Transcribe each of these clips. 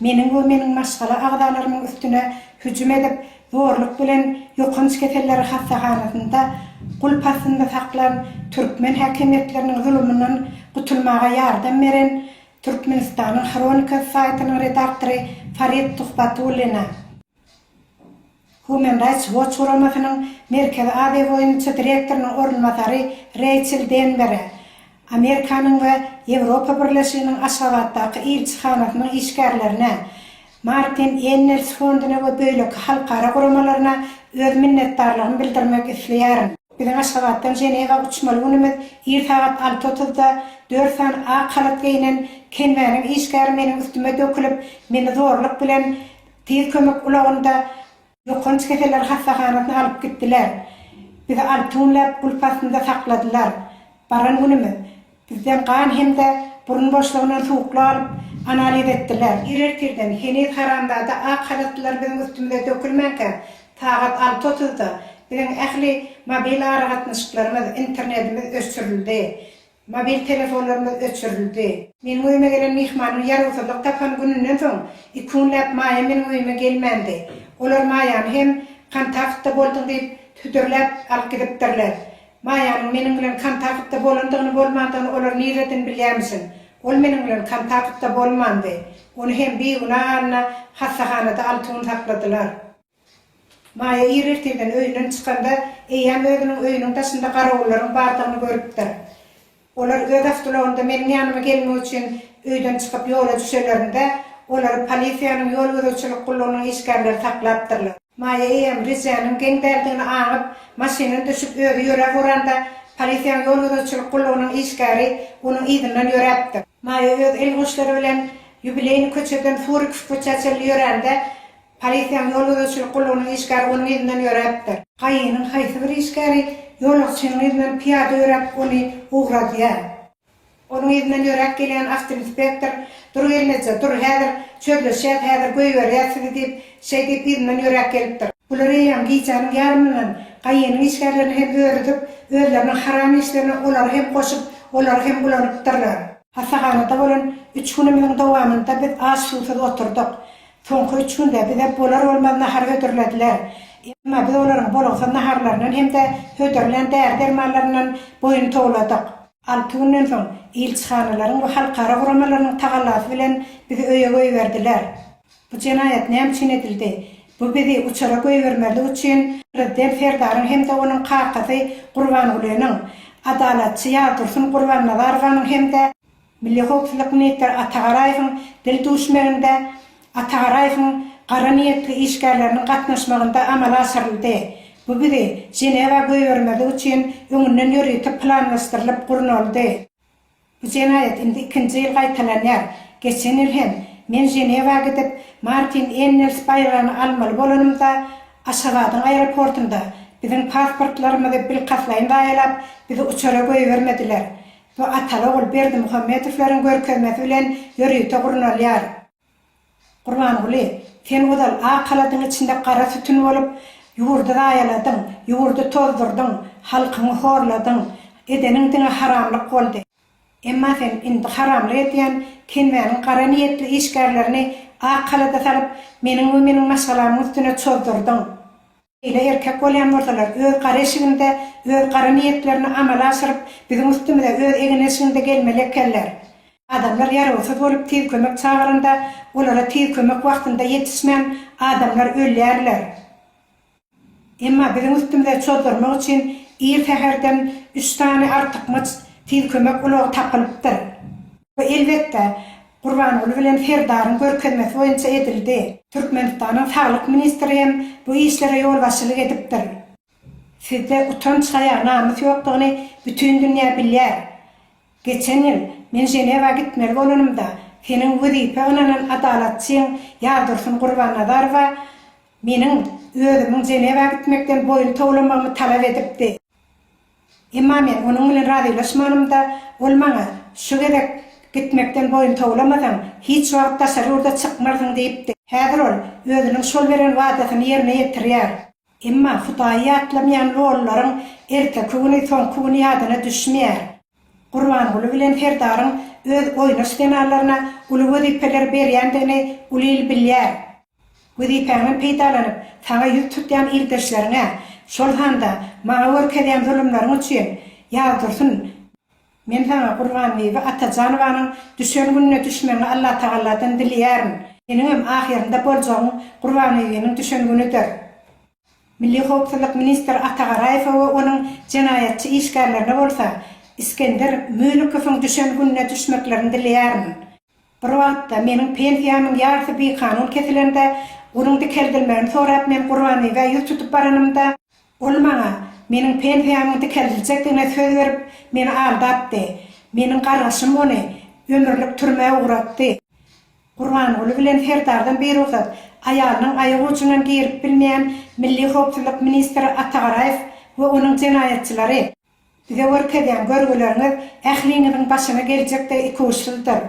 meniň we meniň maşgala agzalarymyň üstüne hüjüm edip, zorluk bilen ýokanç keselleri hassahanasynda gulp astynda saklan türkmen häkimiýetleriniň zulumyndan gutulmaga ýardam beren Türkmenistanyň Hronikasy saýtynyň redaktory Farid Tuhbatullina, Human Rights Watch guramasynyň Merkezi Aziýa boýunça direktorynyň orunbasary Reýçel Denbere, Amerikanyň we Ýewropa Birleşiginiň Aşgabatdaky ilçihanasynyň işgärlerine, Martin Ennels fonduna we beýleki halkara guramalaryna öz minnetdarlygymy bildirmek isleýärin. Biziň Aşgabatdan Ženewa uçmaly günümiz ir sagat alty otuzda dört sany ak halat geýnen Kenwäniň işgäri meniň üstüme dökülip, meni zorluk bilen Tiz kömek ulagynda Ýokanç keseller hassahanasyna alyp gitdiler. Bizi alty günläp gulp astynda sakladylar. Baran günümiz, bizden gan hem-de burun boşlugyndan suwuklyk alyp, analiz etdiler. Ir ertirden, heniz haramzada ak halatlylar biziň üstümize dökülmänkä, sagat alty otuzda biziň ähli mobil aragatnaşyklarymyz, internetimiz öçürildi. Mobil telefonlarymyz öçürildi. Meniň öýüme gelen myhmanyň ýarawsyzlyk tapan gününden soň, iki günläp Maýa meniň öýüme gelmändi. Olar Maýany hem kontaktda bolduň diýip, hüdürläp alyp gidipdirler. Maýanyň meniň bilen kontaktda bolandygyny-bolmandygyny olar nireden bilýärmişin? Ol meniň bilen kontaktda bolmandy. Ony hem bigünä halyna hassahanada alty gün sakladylar. Maýa ir ertirden öýünden çykanda, eýýäm özüniň öýüniň daşynda garawullaryň bardygyny görüpdir. Olar öz awtulagynda meniň ýanyma gelmek üçin öýden çykyp ýola düşelerinde, olary polisiýanyň ýol gözegçilik gullugynyň işgärleri saklapdyrlar. Maýa eýýäm rejäniň geň däldigini aňyp, maşynyny düşüp özi ýöräp uranda, polisiýanyň ýol gözegçilik gullugynyň işgäri onuň yzyndan ýöräpdir. Maýa öz elgoşlary bilen ýubileýny köçeden Surikow köçä çenli ýörände, Polisiýanyň ýol gözegçilik gullugynyň işgäri onuň yzyndan ýöräpdir. Kaýynyň haýsy bir işgäri ýolagçynyň yzyndan pyýada ýöräp, ony ugradýar. Onuň yzyndan ýöräp gelýän awtoinspektor, Dur gelmejä, dur, häzir çözleşýäs, häzir goýberýäs sizi diýip, şeý diýip yzyndan ýöräp gelipdir. Bular eýýäm gijäniň ýarymyndan Kaýynyň işgärlerini hem örüzip, özleriniň haram işlerine olary hem goşup, olary hem ulanypdyrlar. Hassahanada bolan üç günümiziň dowamynda biz aç-suwsuz oturdyk. Soňky üç günde bize bolar-bolmaz nahar hödürlediler. Emma biz olaryň bolgusyz naharlaryndan hem-de hödürlän däri-dermanlaryndan boýun towladyk. Alty günden soň, ilçihanalaryň we halkara guramalarynyň tagallasy bilen bizi öýe goýberdiler. Bu jenaýat näme üçin edildi? Bu bizi uçara goýbermezlik üçin prezident Serdaryň hem-de onuň kakasy Gurbangulynyň, adalatçy Ýazdursun Gurbannazarowanyň hem-de, Milli howpsuzlyk ministri Atagaraýewiň dil duşmeginde Atagaraýewiň gara niýetli işgärleriniň gatnaşmagynda amala aşyryldy. Bu bizi Ženewa goýbermezlik üçin öňünden ýörite planlaşdyrylyp gurnaldy. Bu jenaýat indi ikinji ýyl gaýtalanýar. Geçen ýyl hem men Ženewa gidip, Martin Ennels baýragyny almaly bolanymda, Aşgabadyň aeroportunda biziň pasportlarymyzy bilkastlaýyn zaýalap, bizi uçara goýbermediler. we Ataogul Berdimuhamedowlaryň görkezmesi bilen ýörite gurnalýar. Gurbanguly, sen ozal ak haladyň içinde gara sütün bolup, ýurdy zaýaladyň, ýurdy tozdurdyň, halkyňy horladyň. Edeniň diňe haramlyk boldy. Emma sen indi haramlyk edýän Kenmäniň gara niýetli işgärlerini ak halada salyp, meniň we meniň maşgalamyň üstüne çozdurdyň. Ýöne erkek bolýan bolsalar, öz gara eşiginde öz gara niýetlerini amala aşyryp, biziň üstümize öz egin eşiginde gelmeli ekenler. Adamlar ýarawsyz bolup tiz kömek çagyranda, olara tiz kömek wagtynda ýetişmän, adamlar ölýärler. Emma biziň üstümize çozdurmak üçin ir säherden üç sany artykmaç tiz kömek ulagy tapylypdyr. Bu, elbetde, Gurbanguly bilen Serdaryň görkezmesi boýunça edildi. Türkmenistanyň saglyk ministri hem bu işlere ýolbaşçylyk edipdir. Sizde utanç-haýa, namys ýokdugyny bütin dünýä bilýär. Geçen ýyl, men Ženewa gitmeli bolanymda, seniň wezipä ynanan adalatçyň Ýazdursun Gurbannazarowa meniň özümiň Ženewa gitmekden boýun towlamagymy talap edipdi. Emma men onuň bilen razylaşmanymda, ol maňa, Şu gezek gitmekden boýun towlamasaň, hiç wagt daşary ýurda çykmarsyň diýipdi. Häzir ol özüniň şol beren wadasyny ýerine ýetirýär. Emma Hudaýy ýatlamaýan lolularyň erteki güni, soňky güni ýadyna düşmeýär. Gurbanguly bilen Serdaryň öz oýnaş zenanlaryna uly wezipeleri berýändigini uly il bilýär. Wezipäňden peýdalanyp, saňa ýüz tutýan ildeşleriňe, şol sanda maňa görkezýän zulumlaryň üçin, Ýazdursun, men saňa Gurbanbibi Atajanowanyň düşen gününe düşmegiňi Allatagalladan dileýärin. Seniňem ahyrynda boljagyň Gurbanbibiniň düşen günüdir. Milli howpsuzlyk ministri Ata Garaýewe we onuň jenaýatçy işgärlerine bolsa Isgender Mülikowyň düşen gününe düşmeklerini dileýärin. Bir wagtda meniň pensiýamyň ýarysy bikanun kesilende, gunuň dikeldilmegini sorap men Gurbaniýewe ýüz tutup baranymda, ol maňa meniň pensiýamyň dikeldiljekdigine söz berip, meni aldapdy. Meniň gargyşym ony ömürlik türmä ugratdy. Gurbanguly bilen Serdardan birugsat aýalynyň aýak ujundan girip bilmeýän Milli howpsuzlyk ministri Atagaraýew we onuň jenaýatçylary. Bize görkezýän görgüleriňiz ähliňiziň başyna geljek de ikuçsyzdyr.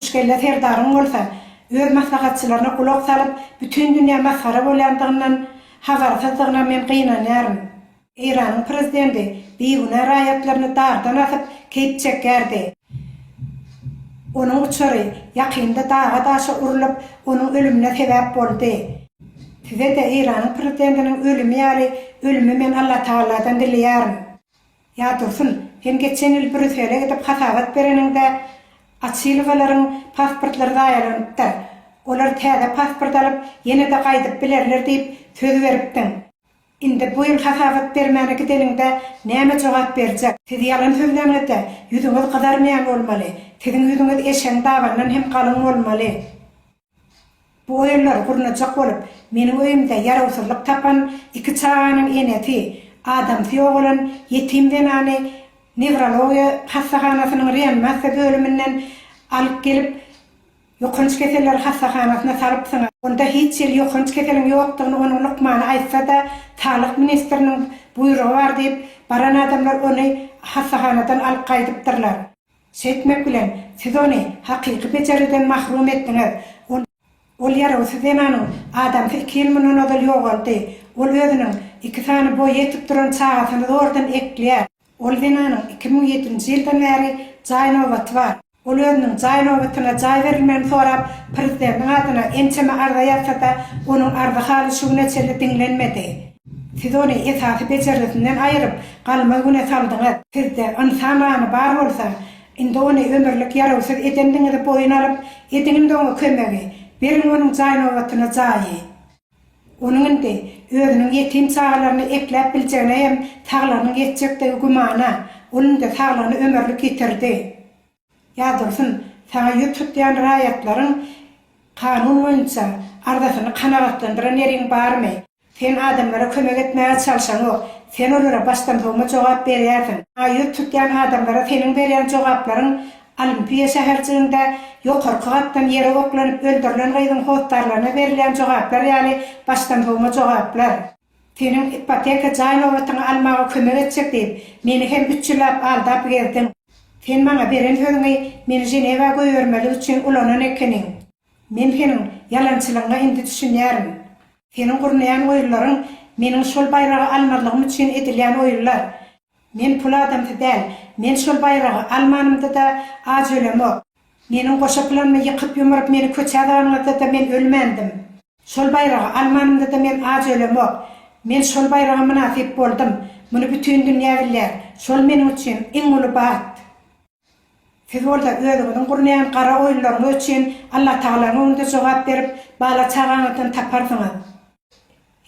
Üçkelle Serdaryň bolsa öz maslahatçylaryna gulak salyp bütin dünýä masgara bolýandygyndan habarsyzdygyna men gynanýaryn. Eýranyň prezidenti bigünä raýatlaryny dardan asyp, keýp çekýärdi. Onuň uçary ýakynda daga-daşa urlup, onuň ölümine sebäp boldy. Size-de Eýranyň prezidentiniň ölümi ýaly ölümi men Allatagaladan dileýärin. Ýa Dursun, sen geçen ýyl Brýussele gidip hasabat bereniňde, Açylowalaryň pasportlary zaýalanypdyr. Olar täze pasport alyp, ýene-de gaýdyp bilerler diýip, söz beripdiň. Indi bu ýyl hasabat bermäne gideniňde näme jogap berjek? Siz ýalan sözlänizde ýüzüňiz gyzarmaýan bolmaly. Siziň ýüzüňiz eşegiň dabandan hem galyň bolmaly. Bu oýunlary gurnajak bolup, meniň öýümde ýarawsyzlyk tapan iki çaganyň enesi, adamsy ýogalan ýetim zenany newrologiýa hassahanasynyň reanimasiýa bölüminden alyp gelip, Ýokanç keseller hassahanasyna salypsyň. Onda hiç hili ýokanç keseliň ýokdugyny onuň lukmany aýtsa-da, saglyk ministriniň buýrugy bar diýip, baran adamlar ony hassahanadan alyp gaýdypdyrlar. Şeýtmek bilen, siz ony hakyky bejergiden mahrum etdiňiz. Ol ýarawsyz zenanyň adamsy iki ýyl mundan ozal ýogaldy. Ol özüniň iki sany boýy ýetip duran çagasyny zordan ekleýär. Ol zenanyň iki müň ýedinji ýyldan bäri jaý nobaty bar. Ol özüniň jaý nobatyna jaý berilmegini sorap, prezidentiň adyna ençeme arza ýazsa-da, onuň arzasy haly şu güne çenli diňlenmedi. Siz ony esasy bejergisinden aýyryp, galmaz güne saldyňyz. Sizde ynsan gany bar bolsa, indi ony ömürlik ýarawsyz edendigiňizi boýun alyp, ediň indi oňa kömegi, beriň onuň jaý nobatyna jaýy. Onuň indi özüniň ýetim çagalaryny ekläp biljegine hem saglygynyň ýetjekdigi gümana. Ol indi saglygyny ömürlik ýitirdi. Ýa Dursun, saňa ýüz tutýan raýatlaryň kanun boýunça arzasyny kanagatlandyran ýeriň barmy? Sen adamlara kömek etmäge çalşaňok. Sen olara başdansowma jogap berýärsiň. Saňa ýüz tutýan adamlara seniň berýän jogaplaryň Olimpiýa şäherjiginde ýokarky gatdan ýere oklanyp öldürilen gyzyň hossarlaryna berilýän jogaplar ýaly başdansowma jogaplar. Seniň ipoteka jaý nobatyňy almaga kömek etjek diýip, meni hem üç ýyllap aldap gezdiň. Sen maňa beren sözüňi meni Ženewa goýbermeli üçin ulanan ekeniň. Men seniň ýalançylygyňa indi düşünýärin. Seniň gurnaýan oýunlaryň meniň şol baýragy almazlygym üçin edilýän oýunlar. Men pul adamsy däl. Men şol baýragy almanymda-da aç ölemok. Meniň goşa planymy ýykyp-ýumuryp meni köçä daganyňyzda-da men ölmändim. Şol baýragy almanymda-da men aç ölemok. Men şol baýraga mynasyp boldum. Muny bütin dünýä bilýär. Şol meniň üçin iň uly bagt. Siz bolsa özüňiziň gurnaýan gara oýunlaryňyz üçin Allatagalanyň öňünde jogap berip, bala-çagaňyzdan taparsyňyz.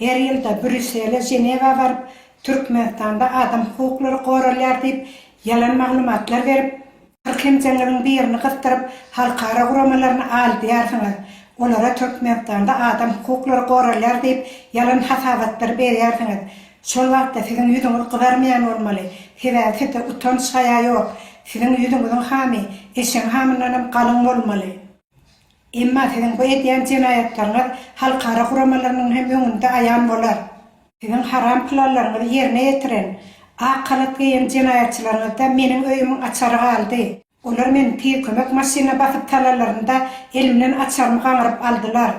Her ýylda Brýussele, Ženewa baryp, Türkmenistanda adam hukuklary goralýar diýip, ýalan maglumatlar berip, kyrk emjeňiziň birini gysdyryp, halkara guramalaryny aldýarsyňyz, olara Türkmenistanda adam hukuklary goralýar diýip, ýalan hasabatlary berýärsiňiz. Şol wagtda siziň ýüzüňiz gyzarmaýan bolmaly, sebäbi sizde utanç-haýa ýok. Siziň ýüzüňiziň hamy eşegiň hamyndanam galyň bolmaly. Emma siziň bu edýän jenaýatlaryňyz halkara guramalarynyň hem öňünde aýan bolar. Siziň haram planlaryňyzy ýerine ýetiren, ak halat geýen jenaýatçylaryňyzda meniň öýümiň açary galdy. Olar meni tiz kömek maşynyna basyp salanlarynda, elimden açarymy gaňryp aldylar.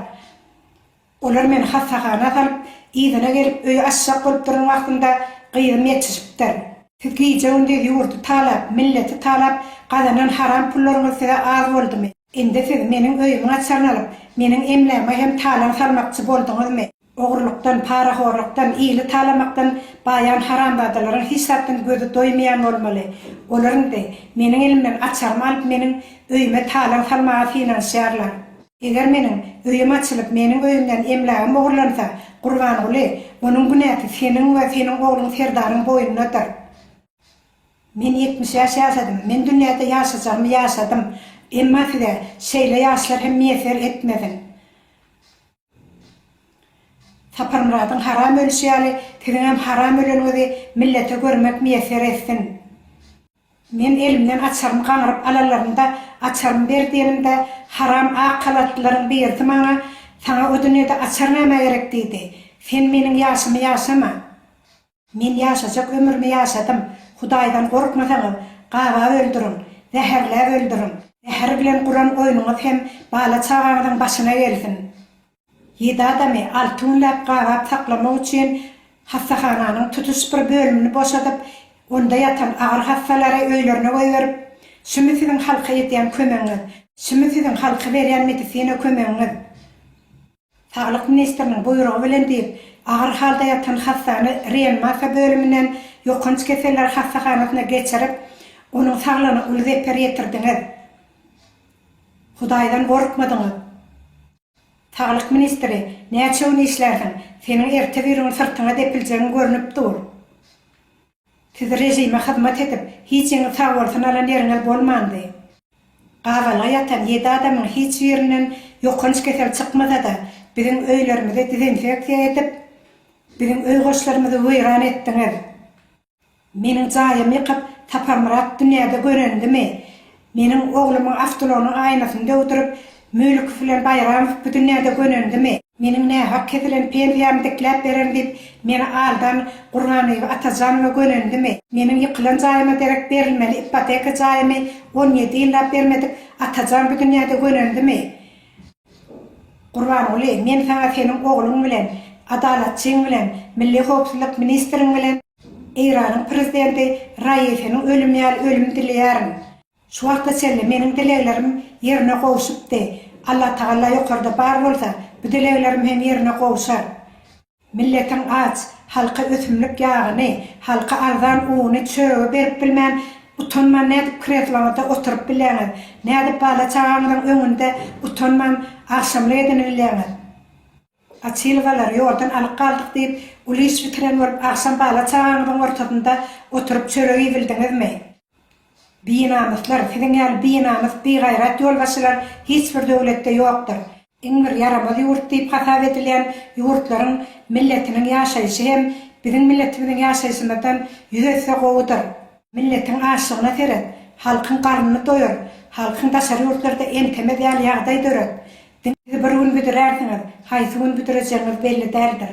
Olar meni hassahana salyp, yzyna gelip, öýi açjak bolup duran wagtynda gyzym ýetişipdir. Siz gije-gündiz ýurdy talap, milleti talap gazanan haram pullaryňyz size az boldumy? Indi siz meniň öýümiň açaryny alyp, meniň emläme hem talaň salmakçy bolduňyzmy? Ogrulykdan, parahorlukdan, ili talamakdan baýan haramzadalaryň hiç zatdan gözi doýmaýan bolmaly. Olar indi, meniň elimden açarymy alyp, meniň öýüme talaň salmaga synanyşýarlar. Eger meniň öýüm açylyp, meniň öýümden emlägim ogurlansa, Gurbanguly, onuň günäsi seniň we seniň ogluň Serdaryň boýnundadyr. Men ýetmiş ýaş ýaşadym. Men dünýäde ýaşajagymy ýaşadym. Emma size şeýle ýaşlar hem miýesser etmesin. Saparmyradyň haram ölüşi ýaly, siziňem haram öleniňizi millete görmek miýesser etsin. Men elimden açarymy gaňryp alanlarynda, açarymy ber diýenimde, haram ak halatlylaryň birisi maňa, Saňa o dünýede açar nämä gerek diýdi. Sen meniň ýaşymy ýaşama. Men ýaşajak ömrümi ýaşadym. Hudaýdan gorkmasaňyz, gaba öldüriň, zäherläp öldüriň. Zäher bilen guran oýnuňyz hem bala-çagaňyzyň başyna gelsin. Ýedi adamy alty günläp gabap saklamak üçin hassahananyň tutuş bir bölümini boşadyp, onda ýatan agyr hassalary öýlerine goýberip, Şumy siziň halka edýän kömegiňiz? Şumy siziň halka berýän medisina kömegiňiz? Saglyk ministriniň buýrugy bilen diýip, agyr halda ýatan hassany reanimasiýa bölüminden ýokanç keseller hassahanasyna geçirip, onuň saglygyna uly zeper ýetirdiňiz. Hudaýdan gorkmadyňyz. Saglyk ministri, näçe gün işlärsiň, seniň ertebirigün syrtyňa depiljegin görnüp dur. Siz režime hyzmat edip, hijiňiz sag bolsun alan ýeriňiz bolmandy. Gabalga ýatan ýedi adamyň hiç birinden ýokanç kesel çykmasa-da, biziň öýlerimizi dezinfeksiýa edip, biziň öý goşlarymyzy weýran etdiňiz. Meniň jaýymy ýykyp, Saparmyrat dünýäde görendimi? Meniň oglumyň awtoulagynyň aýnasyny döwdürip, Mölekow bilen Baýramow bu dünýäde gönendimi? Meniň nähak kesilen pensiýamy dikläp bererin diýip, meni aldan Gurbanlyby Atajanowa gönendimi? Meniň ýykylan jaýyma derek berilmeli ipoteka jaýymy on ýedi ýyllap bermedik Atajan bu dünýäde gönendimi? Gurbanguly, men saňa seniň ogluň bilen, Adalatçyň bilen, Milli howpsuzlyk ministriň bilen, Eýranyň prezidenti Raisiniň ölümi ýaly ölüm dileýärin. Şu wagta çenli meniň dileglerim ýerine gowşupdy. Allatagalla ýokarda bar bolsa, bu dileglerim hem ýerine gowşar. Milletiň aç, halka ösümlik ýagyny, halka arzan uny, çöregi berip bilmän, utanman nädip kresloňyzda oturyp bilýäňiz? Nädip bala-çagaňyzyň öňünde utanman agşamly edinileýäňiz? Açylygalary ýoldan alyp galdyk diýip, uly iş bitiren bolup, agşam bala-çagaňyzyň ortasynda oturyp çörek iýbildiňizmi? Binamyslar, siziň ýaly binamys, bigaýrat ýolbaşçylar hiç bir döwletde ýokdur. Iň bir ýaramaz ýurt diýip hasap edilýän ýurtlaryň milletiniň ýaşaýşy hem biziň milletimiziň ýaşaýşymyzdan ýüz esse gowudyr. Milletiň açlygyna seret, halkyň garnyny doýur, halkyň daşary ýurtlarda entemez ýaly ýagdaý döret. Diňe bir gün büdürärsiňiz, haýsy gün büdürejegiňiz belli däldir.